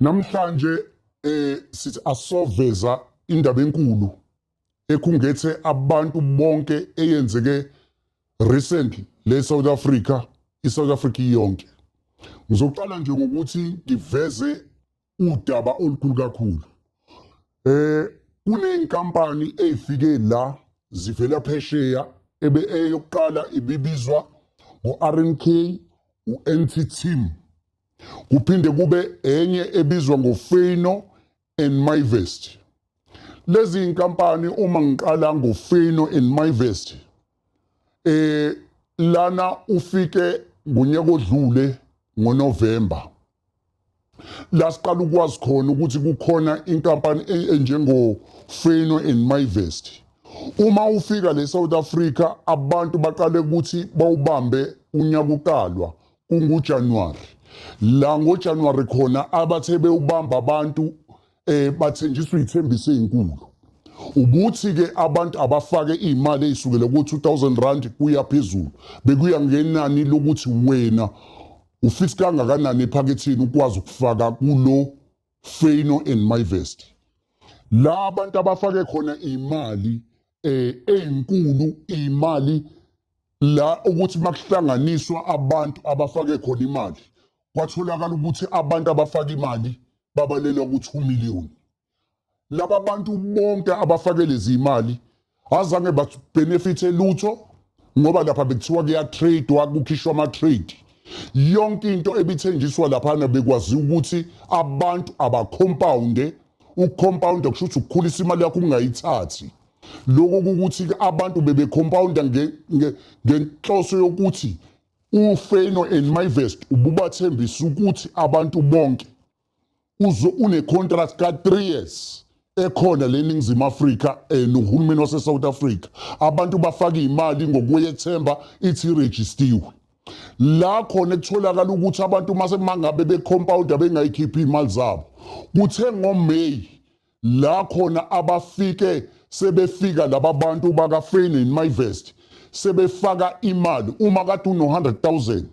Namhlanje eh sithi asoveza indaba enkulu ekhungethe abantu bonke eyenzeke recently le South Africa iSouth Africa iyonke. Ngizoqala nje ngokuthi ngiveze udaba olukhulu kakhulu eh kunenkampani eyifike la zivela phesheya ebe eyokuqala ibibizwa ngo-RNK u-NT Team kuphinde kube enye ebizwa ngoFeino and MyVest lezi inkampani uma ngiqala ngoFeino and MyVest eh lana ufike ngonyaka odlule ngoNovember la siqala ukwazi khona ukuthi kukhona inkampani e- enjengo-feno and myvest uma ufika le south africa abantu baqale ukuthi bawubambe unyaka uqalwa kungujanuwari la ngojanuwari khona abathe bewubamba abantu eh bathenjiswa izithembiso ezinkulu ukuthi ke abantu abafake imali ezisukela ku 2000 rand kuya phezulu bekuya ngenani lokuthi wena ufix kangakanani ephakethini ukwazi ukufaka kulo Fano and my vest la abantu abafake khona imali eh ezinkulu imali la ukuthi makuhlanganiswa abantu abafake khona imali kwatholakala ukuthi abantu abafaka imali babalela ku-2 million laba bantu bonke abafake lezi imali azange babenefithe lutho ngoba lapha bekuthiwa kuyatradewa kukhishwa ama-trade yonke into ebithenjiswa laphana bekwaziwa ukuthi abantu abakhompawunde ukukhompawunda kusho ukuthi ukukhulisa imali yakho ungayithathi lokho ukuthi abantu bebekhompawunda ngenhloso yokuthi UFeyenoord and Myvest ububathembisa ukuthi abantu bonke uze unecontract ka-three years ekhona le ningizimu afrika um nohulumeni wasesouth africa abantu bafake imali ngokweyethemba ithi irejistiwe la khona kutholakala ukuthi abantu uma semangabe becompounder bengayikhiphi iy'mali zabo kuthe ngomeyi la khona abafike sebefika laba bantu bakafeni nemivest sebefaka imali uma kade uno-100,000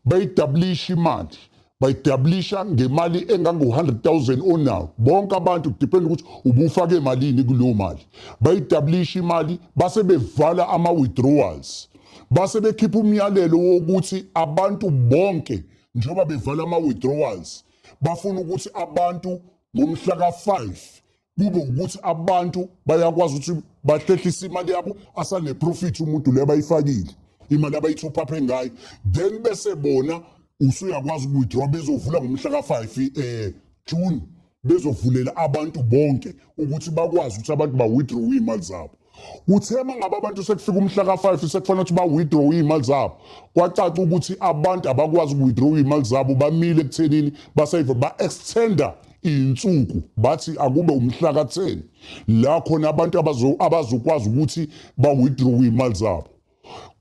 bayidablisha imali bayidablisha ngemali engango-100,000 onawo bonke abantu kudependa ukuthi ubufake malini kuleyo mali bayidablisha imali base bevala ama-withdrawals base bekhipha umyalelo wokuthi abantu bonke njengoba bevala ama-withdrawals bafuna ukuthi abantu ngomhla ka-5 kube ukuthi abantu bayakwazi ukuthi bahlehlise imali yabo asaneprofit umuntu le abayifakile imali abayithophaphe ngayo then bese bona usuyakwazi ukuwithdraw bezovula ngomhla ka-5 um eh, june bezovulela abantu bonke ukuthi bakwazi ukuthi abantu bawithdraw iy'mali zabo Kuthe uma ngabe abantu sekufika umhla ka-5 sekufanele ukuthi ba-withdraw iy'mali zabo kwacaca ukuthi abantu abakwazi uku-withdraw iy'mali zabo bamile ekuthenini basayive ba-extenda iy'nsuku bathi akube umhla ka-10 la khona abantu abazokwazi ukuthi ba-withdraw iy'mali zabo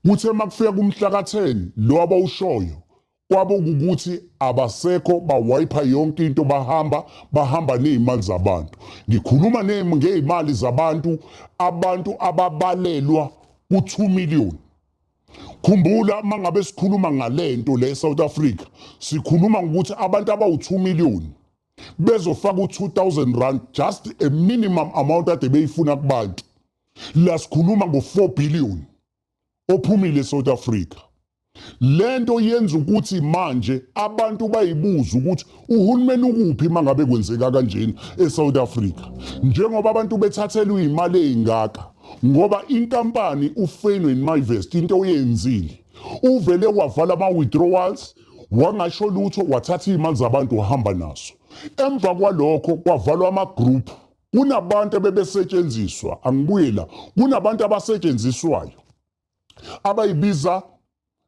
kuthe uma kufika kumhla ka-10 lo abawushoyo Kwabo ukuthi abasekho bawayipha yonke into bahamba bahamba nezimali zabantu. Ngikhuluma ngezimali zabantu abantu ababalelwa ku2 million. Khumbula mangabe sikhuluma ngalento le South Africa sikhuluma ngokuthi abantu abawu2 million bezofaka u2000 rand just a minimum amount ade beyifuna kubantu. La sikhuluma ngo4 billion. ophumile eSouth Africa lento yenza ukuthi manje abantu bayibuza ukuthi uhulumeni ukuphi mangabe kwenzeka kanjena eSouth Africa njengoba abantu bethathelwa imali ezingaka ngoba inkampani uFenway Invest into oyenzile uvele wavala ama withdrawals wangasho lutho wathatha imali zabantu wahamba naso emva kwalokho kwavalwa ama group Kunabantu ebebesetshenziswa, angibuye la. Kunabantu abasetshenziswayo abayibiza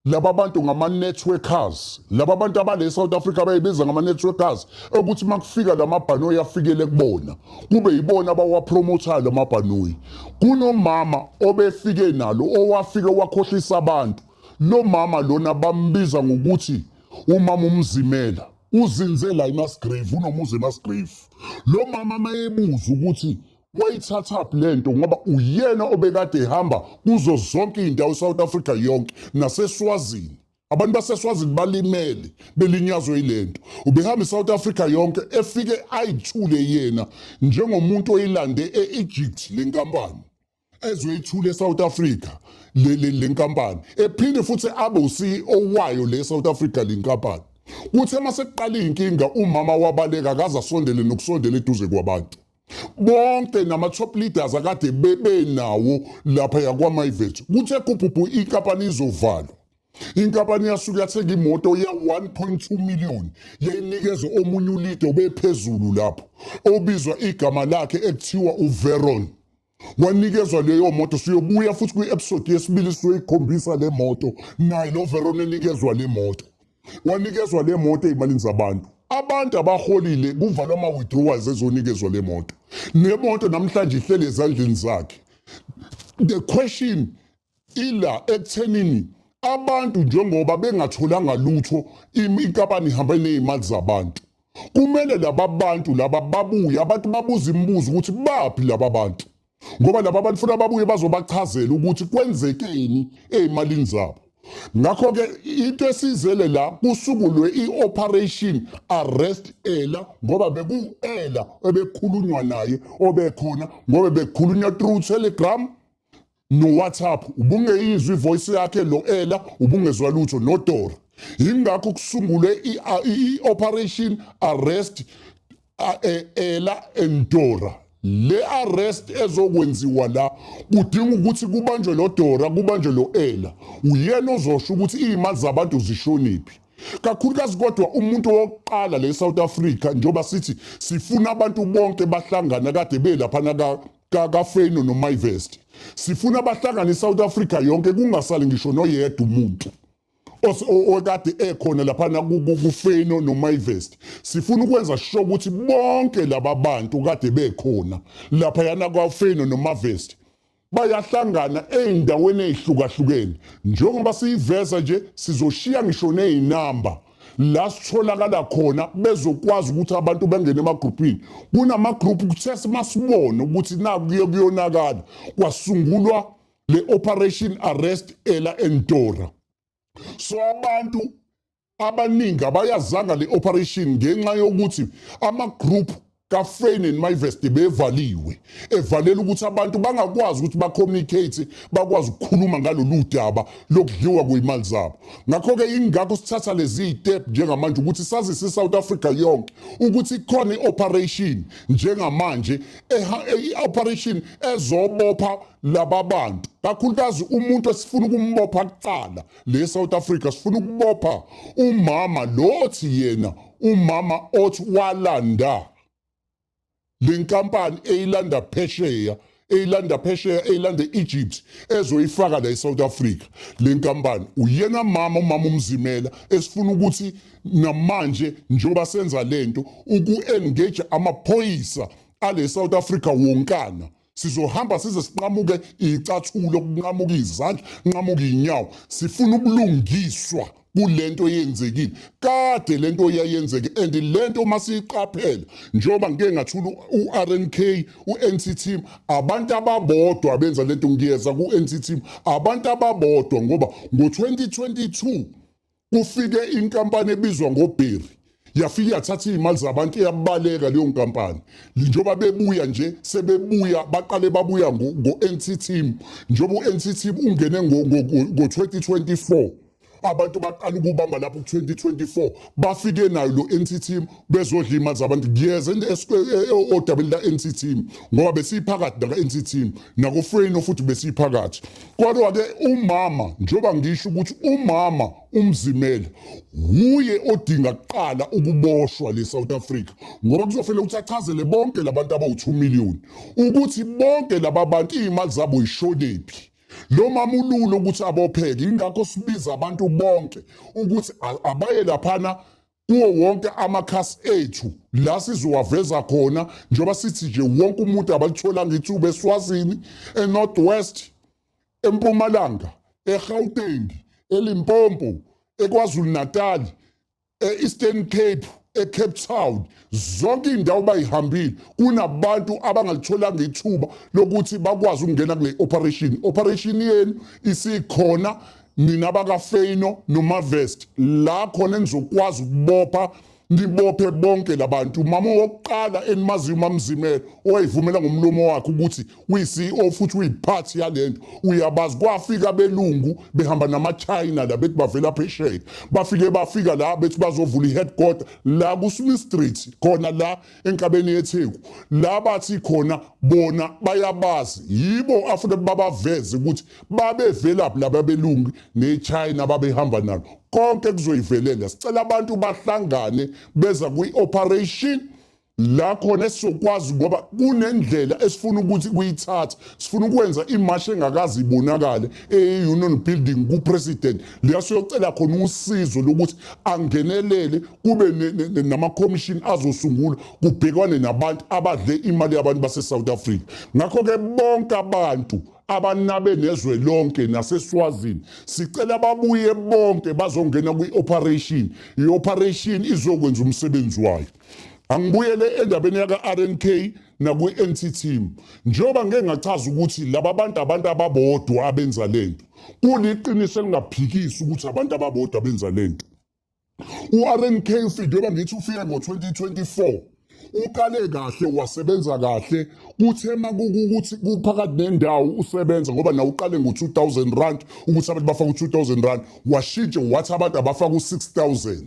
laba bantu ngama-networkers laba bantu abale south africa abayibiza ngama-networkers ukuthi uma kufika la mabhanoyi afikele kubona kube yibona abawapromothayo la mabhanoyi kunomama obefike nalo owafike wakhohlisa abantu lo mama lona bambiza ngokuthi umama umzimela uzinze la eMasgrave unomuzi eMasgrave lo mama mayebuza ukuthi wayithatha phi lento ngoba uyena obekade ehamba kuzo zonke izindawo eSouth Africa yonke naseSwazini abantu baseswazini balimele belinyazwe ilento ubehamba iSouth Africa yonke efike ayithule yena njengomuntu oyilande eEgypt lenkampani ezwe ithule eSouth Africa le le le nkampani ephinde futhi abe uCEO wayo le South Africa le nkampani kuthe uma sekuqala inkinga umama wabaleka akaze asondele nokusondela eduze kwabantu bonke nama-top leaders akade bebenawo lapha yakwamaivet kuthe kubhubhu inkampani izovalwa inkampani yasuke yathenga imoto ye-1.2 million yayinikeza omunye ulide obephezulu lapho obizwa igama lakhe ekuthiwa uveron wanikezwa leyo moto siyobuya futhi kwi-episode yesibili sizoyikhombisa le moto naye lo verona enikezwa le moto wanikezwa le moto ey'malini zabantu abantu abaholile kuvalwa ama-withdrawals ezonikezwa le moto le moto namhlanje ihleli ezandleni zakhe the question ila ekuthenini abantu njengoba bengatholanga lutho inkampani ihamba nezimali zabantu kumele laba bantu laba babuye abantu babuza imibuzo ukuthi baphi laba bantu ngoba laba bantu funa babuye bazobachazela ukuthi kwenzekeni ezimalini zabo ngakho ke into esizele la kusukulwe ioperation arrest ela ngoba beku ela ebekhulunywa naye obekhona ngoba bekhulunywa through telegram NoWhatsApp ubungeyizwa ivoice yakhe noElla ubungezwa lutho noDora. Yingakho kusungulwe i-Operation Arrest e, Ella and Dora. Le arrest ezokwenziwa la kudinga ukuthi kubanjwe lo Dora kubanjwe lo Ella. Uyena ozosho ukuthi izimali zabantu zishoniphi. Kakhulukazi kodwa umuntu wokuqala le South Africa njengoba sithi sifuna abantu bonke bahlangana kade belaphana ka kakafeno nomayivesti sifuna abahlangane isouth africa yonke kungasali ngisho noyedwa umuntu okade ekhona laphana kufeno nomayivesti sifuna ukwenza sho ukuthi bonke laba bantu kade bekhona laphayana kwafeno nomavesti bayahlangana ey'ndaweni ey'hlukahlukene njengoba siyiveza nje sizoshiya ngisho ney'namba la sitholakala khona bezokwazi ukuthi abantu bangene emagruphini kunamagruphu kuthe simasibone ukuthi naku kuye kuyonakala kwasungulwa le operation arrest ela entora so abantu abaningi abayazanga le operation ngenxa yokuthi amagroup kaFreyne and Myvest bevaliwe evalela ukuthi abantu bangakwazi ukuthi bacommunicate bakwazi ukukhuluma ngalolu daba lokudliwa kweyimali zabo ngakho-ke ingakho sithatha lezi yitep njengamanje ukuthi sazise i-south africa yonke ukuthi ikhona i-operation njengamanje i-operation ezobopha laba bantu kakhulukazi umuntu esifuna ukumbopha kuqala le South Africa sifuna ukubopha umama lothi yena umama othi walanda lenkampani eyilanda phesheya eyilanda phesheya eyilanda Egypt ezoyifaka la eSouth Africa lenkampani uyena mama umama umzimela esifuna ukuthi namanje njoba senza lento uku engage amaphoyisa ale South Africa wonkana Sizohamba size sinqamuke icathulo, kunqamuke izandla, nqamuke inyawo. Sifuna ubulungiswa kulento eyenzekile. Kade lento yayenzeke and lento uma siyiqaphela njengoba ngike ngathula uRNK, uNCT, abantu ababodwa abenza lento ngiyeza kuNCT, abantu ababodwa ngoba ngo-2022 kufike inkampani ebizwa ngobheri yafike yathatha iy'mali zabantu iyabaleka leyo nkampani njengoba bebuya nje sebebuya baqale babuya ngo-nc team njengoba u-nc team ungene ngo-2024 abantu baqala ukubamba lapho ku-2024 bafike nayo lo-nc team bezodla imali zabantu kuyeza e, e, odabeni la-NC team ngoba besiyiphakathi naka-NC team nakofreno futhi besiyiphakathi kodwa-ke umama njengoba ngisho ukuthi umama umzimela wuye odinga kuqala ukuboshwa le South Africa ngoba kuzofanele ukuthi achazele bonke labantu abawu-2 million ukuthi bonke laba bantu iy'mali zabo yishonephi lo mama ululo ukuthi abopheke ingakho sibiza abantu bonke ukuthi abaye laphana kuwo wonke amakhasi ethu la sizowaveza khona njengoba sithi nje wonke umuntu abalitholanga ithuba eswazini enorth west empumalanga egauteng elimpompo ekwazulu-natal e-eastern cape ecape town zonke iy'ndawo bayihambile kunabantu abangalitholanga ithuba lokuthi bakwazi ukungena kule operation operation yenu isikhona nina bakafeyino nomavest la khona enizokwazi ukubopha nibophe bonke labantu mama wokuqala enimaziyo umamzimela owayivumela ngomlomo wakhe ukuthi uyi-ceo futhi uyiphathi yalento uyabazi kwafika belungu behamba namachina la bethi bavela phesheya bafike bafika la bethi bazovula i-headquarter la kusumistrithi khona la enkabeni yetheku la bathi khona bona bayabazi yibo afuna babaveze ukuthi babevelaphi laba belungi nechina ababehamba nalo konke kuzoyivelela sicela abantu bahlangane beza kwi-operation la khona esizokwazi ngoba kunendlela esifuna ukuthi kuyithatha sifuna ukwenza imashi engakazi ibonakale e-union building kupresident la siyocela khona usizo lokuthi angenelele kube namakhomishini azosungulwa kubhekwane nabantu abadle imali yabantu base-south africa ngakho-ke bonke abantu abanabe nezwe lonke naseswazini sicela babuye bonke bazongena kwi-operation i-operation izokwenza umsebenzi wayo angibuyele endabeni yaka-rnk nakwi-anti team njengoba ngeke ngachaza ukuthi laba bantu abantu ababodwa abenza lento kuliqiniso elingaphikisi ukuthi abantu ababodwa abenza lento u-rnk ufike njengoba ngithi ufike ngo-2024 uqale kahle wasebenza kahle kuthe makukuthi kuphakathi nendawo usebenza ngoba nawe uqale ngo-2000 rand ukuthi abantu bafake u-2000 rand washintshe wathi abantu abafake u-6000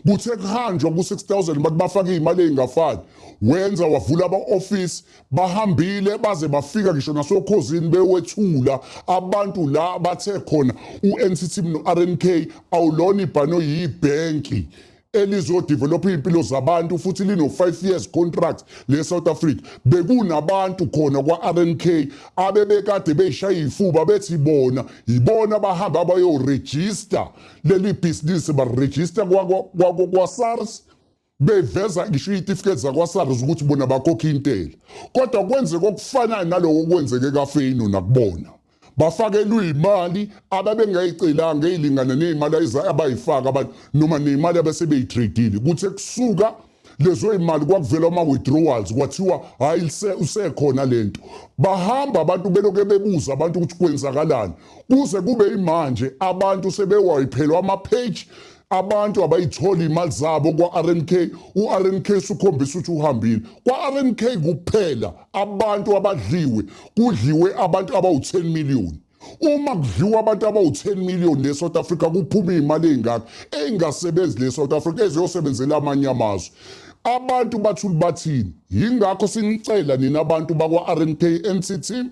Kuthe kuhanjwa ku-6000 bathi bafake iy'mali ey'ngafani wenza wavula aba-ofisi bahambile baze bafika ngisho nasokhozini bewethula abantu la bathe khona u-nct no-rnk awulona ibhano yibhenki elizodevelopha iy'mpilo zabantu futhi lino-five years contract le-south africa bekunabantu khona kwa-rnk abebekade beyishaya iy'fuba bethi bona yibona abahambe abayorejista leli bhizinisi barejista kwasars beveza ngisho iy'tifiketi zakwasars ukuthi bona bakhokha intela kodwa kwenzeka okufanayo naloko okwenzeke kafeyino nakubona bafakelwe imali ababengayicelanga eyilingana nezimali abayifaka abantu noma nemali abasebeyitradile kuthe kusuka lezo imali kwakuvela ama withdrawals kwathiwa hayi usekhona lento bahamba abantu beloke bebuza abantu ukuthi kwenzakalani kuze kube imanje abantu sebewayiphelwa ama page abantu abayithola imali zabo kwa-rnk u-rnk sukhombisa ukuthi uhambile kwa-rnk kuphela abantu abadliwe kudliwe abantu abawu-10 miliyoni uma kudliwa abantu abawu-10 million le South Africa kuphuma iy'mali ey'ngaka ey'ngasebenzi le South Africa eziyosebenzela amanye amazwe abantu bathula bathini yingakho sinicela nina abantu bakwa-rnk nct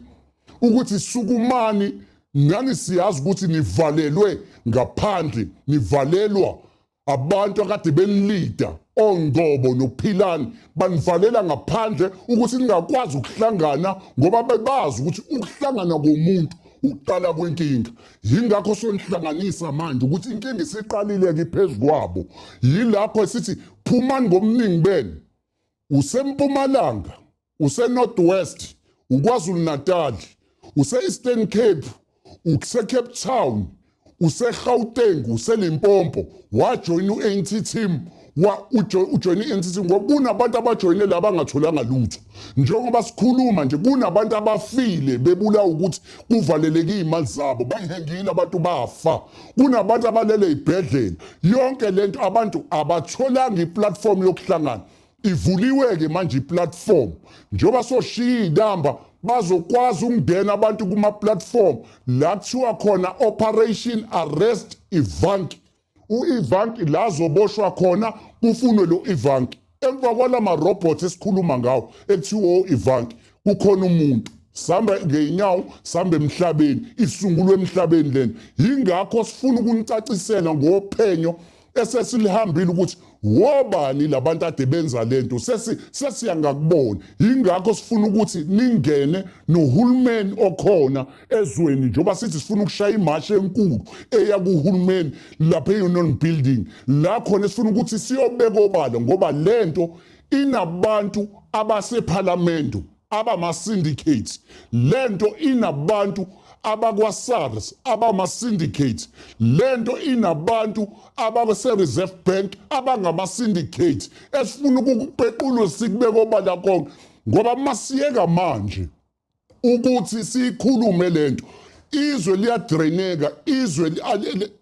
ukuthi sukumani nani siyazi ukuthi nivalelwe ngaphandle nivalelwa Abantu akade benilida oNgcobo noPhilani banivalela ngaphandle ukuthi ningakwazi ukuhlangana ngoba bebazi ukuthi ukuhlangana komuntu ukuqala kwenkinga yingakho sonihlanganisa manje ukuthi inkinga isiqalile-ke phezu kwabo yilapho esithi phumani ngobuningi benu useMpumalanga, useNorth West, uKwaZulu-Natal, use-Eastern Cape, useCape Town, useGauteng, useLimpopo, wajoyina u-ANC team ujoyine i-NCC ngoba kunabantu abajoyine la bangatholanga lutho njengoba sikhuluma nje kunabantu abafile bebulawa ukuthi kuvaleleke iy'mali zabo bayihengile abantu bafa kunabantu abalele ey'bhedlela yonke le nto abantu abatholanga iplatform yokuhlangana ivuliwe-ke manje iplatform njengoba soshiya iy'namba bazokwazi ukungena abantu kuma-platform la kuthiwa khona operation arrest ivanki u-ivanki la zoboshwa khona kufunwe lo ivanki Emva kwala marobhothi esikhuluma ngawo ekuthiwa o-Ivanki kukhona umuntu sihamba ngey'nyawo sihamba emhlabeni isungulwe emhlabeni lena yingakho sifuna ukunicacisela ngophenyo esesilihambile ukuthi wobani labantu ade benza lento sesi sesiyangakubona yingakho sifuna ukuthi ningene nohulumeni okhona ezweni njengoba sithi sifuna ukushaya imashi enkulu eya kuhulumeni lapha e-union building la khona sifuna ukuthi siyobeka obala ngoba le nto inabantu abasephalamende abama-syndicate le nto inabantu abakwa-sars abama-syndicate le nto inabantu abase-reserve bank abangama-syndicate esifuna ukukupequlwe sikubeka obala konke ngoba masiyeka manje ukuthi siyikhulume lento izwe liyadraineka izwe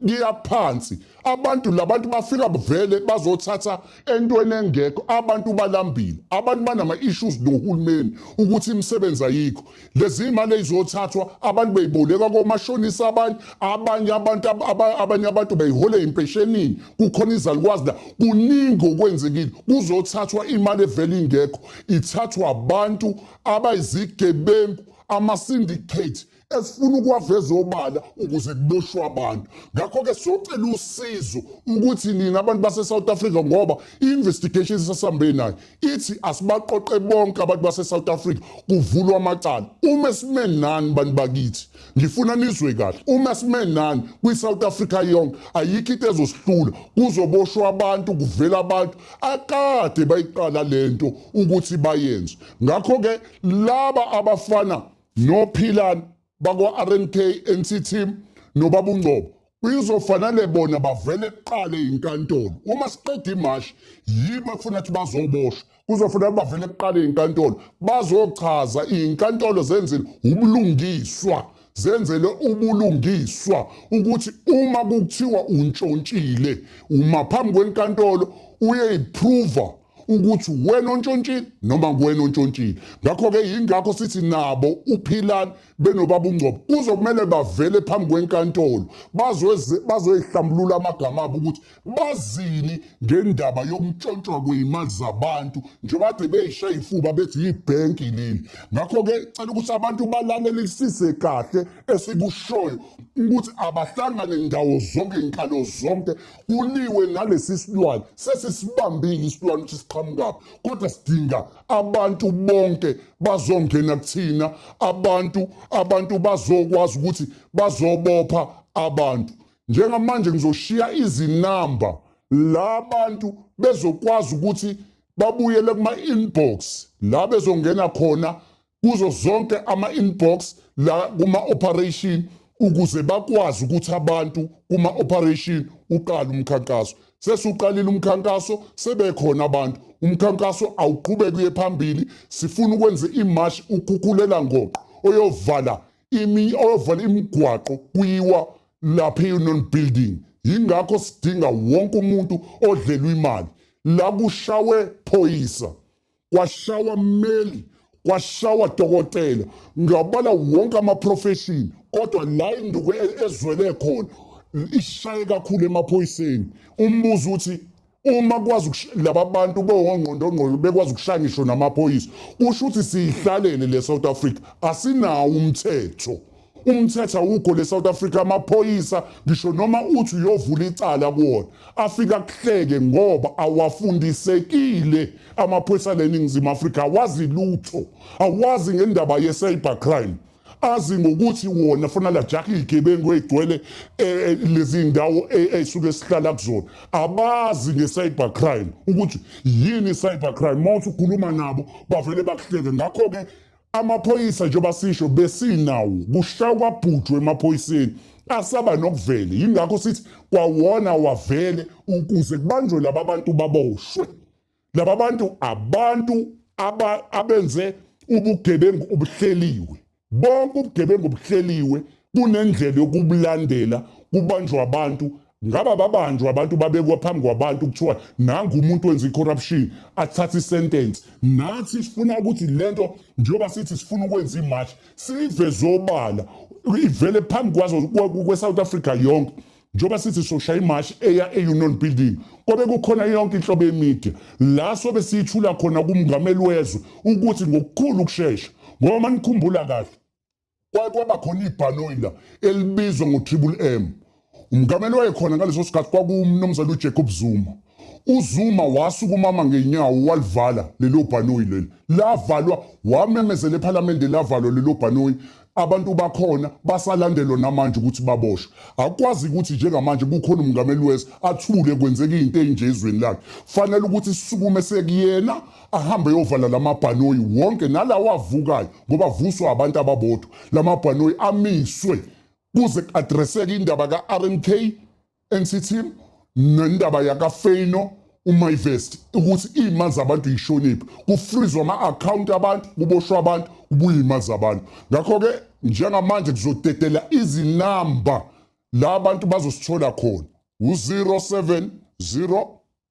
liyaphansi abantu labantu bafika bavele bazothatha entweni engekho abantu balambile abantu banama issues nohulumeni ukuthi imisebenzi ayikho lezi imali ezothathwa abantu beyiboleka komashonisa abanye abanye abantu abanye abantu beyihole impeshenini kukhona izalukwazi la kuningi okwenzekile kuzothathwa imali evele ingekho ithathwa abantu abayizigebengu ama-syndicate esifuna ukuwaveza obala ukuze kuboshwe abantu ngakho-ke siyocela usizo ukuthi nina abantu base-south africa ngoba i-investigation esasambe nayo ithi asibaqoqe bonke abantu base-south africa kuvulwa amacala uma sime nani bantu bakithi ngifuna nizwe kahle uma sime nani kwi-south africa yonke ayikho into ezosihlula kuzoboshwa abantu kuvela abantu akade bayiqala le nto ukuthi bayenze ngakho-ke laba abafana nophilani bakwa-rnk nc team nobabungcobo kuyizofanele bona bavele kuqale inkantolo uma siqeda imashi yibo ekufuna ukuthi bazoboshwa kuzofanele bavele kuqale inkantolo bazochaza inkantolo zenzile ubulungiswa zenzele ubulungiswa ukuthi uma kuthiwa untshontshile uma phambi kwenkantolo uyeyiphruva ukuthi wena ontshontshile noma kuwena ontshontshile ngakho-ke yingakho sithi nabo uphilani benobaba ungcobo kuzokumele bavele phambi kwenkantolo bazoyihlambulula amagama abo ukuthi bazini ngendaba yokuntshontshwa kwey'mali zabantu njengoba kade beyishaye ifuba bethi yibhenki leli ngakho-ke cela ukuthi abantu balalelisise kahle esikushoyo ukuthi abahlangane ndawo zonke nkalo zonke kuliwe ngalesi silwane sesisibambile isilwane ukuthi siqhamukaphi kodwa sidinga abantu bonke bazongena kuthina abantu abantu bazokwazi ukuthi bazobopha abantu njengamanje ngizoshiya izinamba la bantu bezokwazi ukuthi babuyele kuma-inbox la bezongena khona kuzo zonke ama-inbox la kuma-operation ukuze bakwazi ukuthi abantu kuma-operation uqala umkhankaso sesuqalile umkhankaso sebekhona abantu umkhankaso awuqhubeki uye phambili sifuna ukwenza imash ukhukhulela ngoqo oyovala imi oyovala imigwaqo kuyiwa lapha e-union building yingakho sidinga wonke umuntu odlelwa imali la kushawe phoyisa kwashawa mmeli kwashawa dokotela ngabala wonke amaprofeshini kodwa la induku e- ezwele khona ishaye kakhulu emaphoyiseni umbuzo uthi uma kwazi ukush- laba bantu bewongqondongqondo bekwazi ukushaya ngisho namaphoyisa kusho ukuthi siyihlalele le south africa asinawo umthetho Umthetho awukho le South Africa amaphoyisa ngisho noma uthi uyovula icala kuwona afika kuhleke ngoba awafundisekile amaphoyisa leningizimu Africa awazi lutho awazi ngendaba ye cyber crime azi ngokuthi wona funa lajaha igebengu egcwele eh, eh, lezi ndawo esuke eh, sihlala kuzona abazi nge-cyber crime ukuthi yini i-cyber crime uma uthi ukhuluma nabo bavele bakuhleke ngakho-ke Amaphoyisa njengoba sisho besinawo kushaya kwabhujwe emaphoyiseni asaba nokuvele yingakho sithi kwawona wavele ukuze kubanjwe laba bantu baboshwe laba bantu abantu abenze ubugebengu obuhleliwe bonke ubugebengu obuhleliwe kunendlela yokubulandela kubanjwa abantu Ngaba babanjwa abantu babekwa phambi kwabantu kuthiwa nangu umuntu wenza i-corruption athathe i-sentence. Nathi sifuna ukuthi le nto njengoba sithi sifuna ukwenza imashi siyiveze obala ivele phambi kwazo kwe-South Africa yonke njengoba sithi soshaya imashi eya e-union building kobe kukhona yonke inhlobo yemedia la sobe siyithula khona kumngameli wezwe ukuthi ngokukhulu ukushesha ngoba manikhumbula kahle kwaye kwaba khona ibhanoyi la elibizwa ngotriple m umgameli wayekhona ngaleso sikhathi kwakuwumnumzane ujacob zuma uzuma wasukumama ngenyawo walivala lelo bhanoyi leli lavalwa wamemezela ephalamende lavalwa lelo bhanoyi abantu bakhona basalandelwa namanje ukuthi baboshwe akwazi ukuthi njengamanje kukhona umngameli wezwe athule kwenzeka into enje ezweni lakhe fanele ukuthi sisukume sekuyena ahambe eyovala lamabhanoyi wonke nalawa avukayo ngoba vuswa abantu ababodwa lamabhanoyi amiswe kuze kuadreseke indaba ka-rmk nct nendaba yakafeyino umayvest ukuthi iy'mali zabantu yishoniphi kufrizwe ama-akhawunti abantu kuboshwa abantu kubuye iy'mali zabantu ngakho-ke njengamanje kuzodedela izinamba la abantu bazosithola khona u-070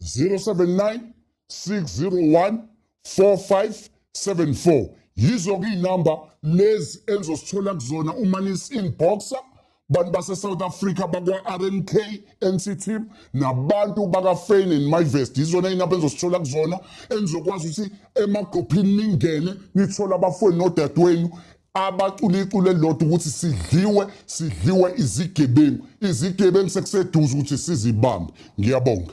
079 601 4574 yizo kuyinamba lezi enizosithola kuzona uma nisi-inboxer bantu base-south africa bakwa-rnk nct nabantu bakafane and myvest yizona inamba enizosithola kuzona enizokwazi ukuthi emagqophini ningene nithole abafweni nodadewenu abacula iculo elilodwa ukuthi sidliwe sidliwe izigebengu izigebengu sekuseduze ukuthi sizibambe ngiyabonga